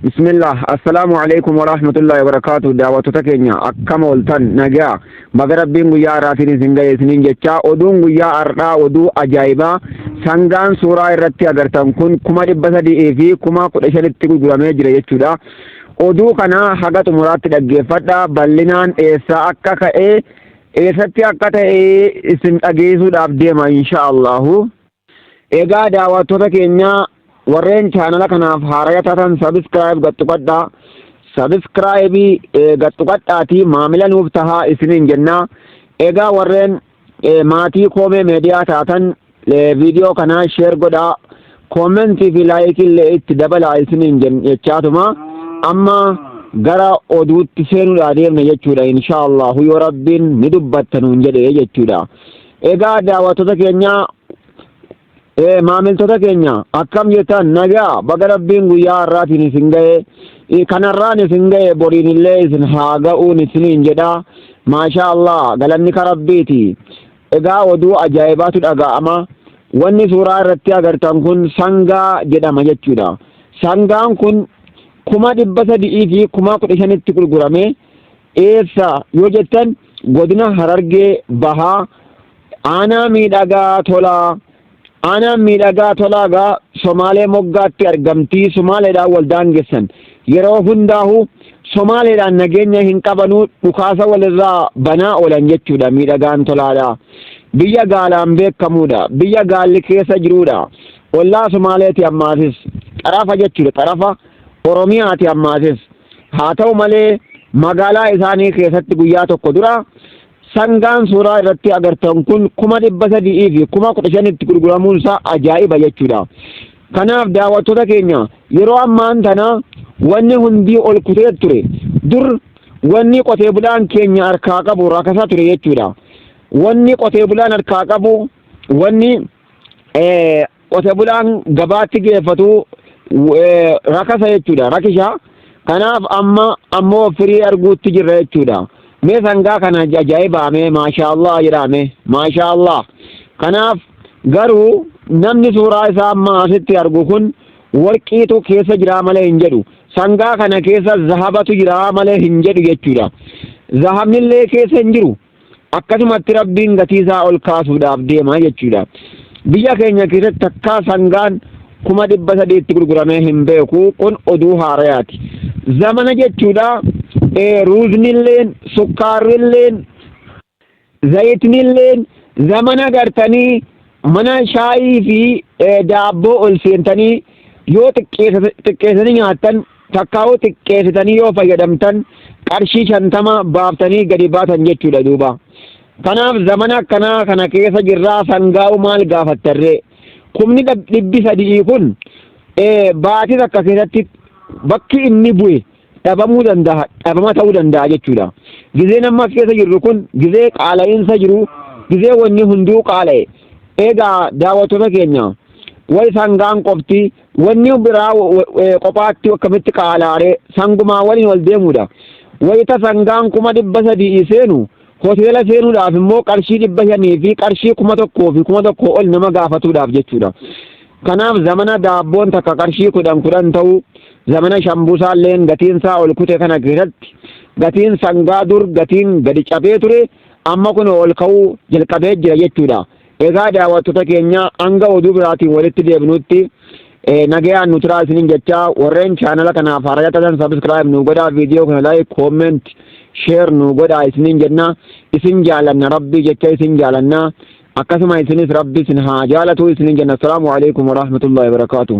Bismillah assalaamu alaikum warahmatullahi wabarakaatu daawwattoota keenya akkam ooltan nagaa baga rabbiin guyyaa har'aatiin isin ga'e isiniin jechaa oduun guyyaa har'aa oduu ajaa'ibaa sangaan suuraa irratti agartan kun kuma dhibba sadii fi kuma kudha shanitti gurguramee jira jechuudha oduu kana haga xumuraatti dhaggeeffadha bal'inaan eessaa akka ka'e eessatti akka ta'e isin dhageessuudhaaf deema insha allahu Egaa daawwattoota keenya warreen chaanala kanaaf haaraya taatan sabiskiraayib gaxxuqadhaa. Sabiskiraayibii gaxxuqadhaatii maamila nuuf tahaa isiniin jennaa. Egaa warreen maatii koomee meediyaa taatan viidiyoo kanaa sheer godhaa. Koomentii fi laayikii illee itti dabalaa isiniin jechaatuma. Amma gara oduutti seenuudhaa deemna jechuudha. Inshaallahu yoo rabbiin ni dubbatta nuun jedhe jechuudha. Egaa daawwattoota keenya eh, maamiltoota keenya akkam jettan nagaa baga rabbiin guyyaa har'aatiin isin ga'e Eh, kanarraan isin ga'e boriin illee isin haa ga'uun isiniin jedha maashaa allah galanni ka rabbiiti egaa oduu ajaa'ibaatu dhaga'ama wanni suuraa irratti agartan kun sangaa jedhama jechuudha sangaan kun kuma dhibba sadii fi kuma kudha shanitti gurgurame Eessa yoo jettan godina Harargee Bahaa aanaa miidhagaa tolaa. Aanaan miidhagaa tolaa gaa Somaalee moggaatti argamtii Somaaleedhaan wal daangessan. Yeroo hundaahu Somaaleedhaan nageenya hin qabanuu dhukaasa walirraa banaa oolan jechuudha miidhagaan tolaadha. Biyya gaalaan beekamuudha. Biyya gaalli keessa jiruudha. Ollaa Somaaleeti ammaasis xarafa jechuudha xarafa. Oromiyaati ammaasis. Haa ta'u malee magaalaa isaanii keessatti guyyaa tokko dura sangaan suuraa irratti agartan kun kuma dhibba sadii fi kuma kudha shanitti gurguramuun isaa ajaa'iba jechuudha. Kanaaf daawwattoota keenya yeroo ammaan tana wanni hundii ol kutee ture dur wanni qotee bulaan keenya harkaa qabu rakasa ture jechuudha. Wanni qotee bulaan harkaa qabu wanni qote bulaan gabaatti geeffatu rakasa jechuudha rakisha kanaaf amma ammoo firii arguutti jirra jechuudha mee sangaa kana ajaa'ibaa mee maashaallah jedhaa mee maashaallah kanaaf garuu namni suuraa isaa amma asitti argu kun warqiitu keessa jiraa malee hin jedhu sangaa kana keessa zahabatu jiraa malee hin jedhu jechuudha zahabnillee keessa hin jiru akkasumatti rabbiin gatii isaa ol kaasuudhaaf deema jechuudha biyya keenya keessatti takkaa sangaan kuma dhibba sadiitti gurguramee hin beeku kun oduu haarayaati zamana jechuudha ruuznilleen sukkaarrilleen zayitnilleen zamana gartanii mana shaayii fi daabboo ol seentanii yoo xiqqeessanii nyaattan takkaa'uu xiqqeessitanii yoo fayyadamtan qarshii shantama baaftanii gadi baatan jechuudha duuba. Kanaaf zamana akkanaa kana keessa jirraa sangaa'u maal gaafattarree? Kumni dhibbi sadii kun baatii takka keessatti bakki inni bu'e dhabamuu danda'a dhabama ta'uu danda'a jechuudha. Gizeen amma as keessa jirru kun gizee qaala'iinsa jiru gizee wanni hunduu qaala'e eegaa daawwattoota keenya wayi sangaan qofti Wanni biraa qophaatti akkamitti qaalaaree sangumaa waliin wal deemuudha. Wayita sangaan kuma dhibba sadii seenu hoteela seenuudhaaf immoo qarshii dhibba shanii fi qarshii kuma tokkoo fi kuma tokkoo ol nama gaafatuudhaaf jechuudha. Kanaaf zamana daabboon takka qarshii kudhan kudhan ta'u zamana shambusaalleen gatiin isaa ol kute kana keessatti gatiin sangaa dur gatiin gadi cabee ture amma kun ol ka'uu jalqabee jira jechuudha. Egaa daawwattota keenya hanga oduu biraatiin walitti deebinutti nagayaan nu turaa isinin jechaa warreen chaanala kanaaf haaraya taatan sabiskiraayib nu godhaa viidiyoo kana laayik kooment sheer nu godhaa isinin jenna isin jaalanna rabbii jecha isin jaalanna akkasuma isinis rabbi isin haa jaalatu isinin jenna assalaamu alaikum warahmatullahi wabarakaatuh